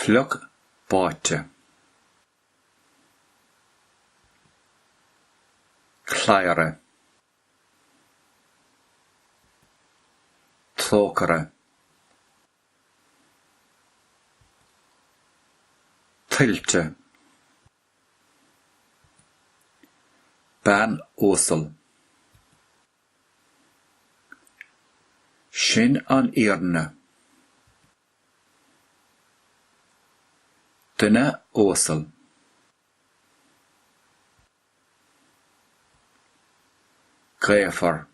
Fliuch báite. Cladhaire. Trócaire. Tuilte. Bean uasal. Sin an fhírinne. Duine uasal. Gaofar.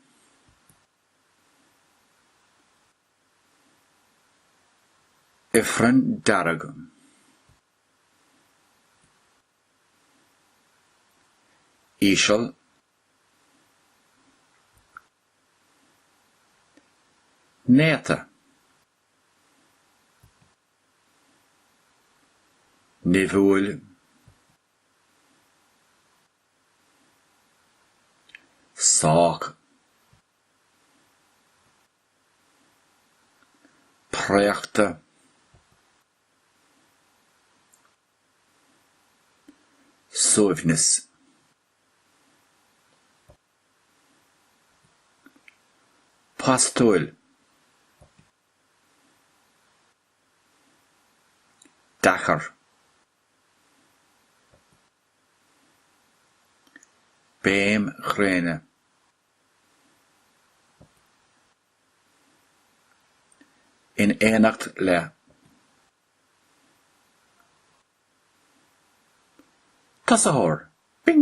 Ifreann dearg. íseal néata nimhiúil sách préachta. suaimhneas. postúil. deacair. béim ghréine. in éineacht le tosaitheoirí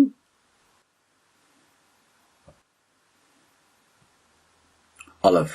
ullamh.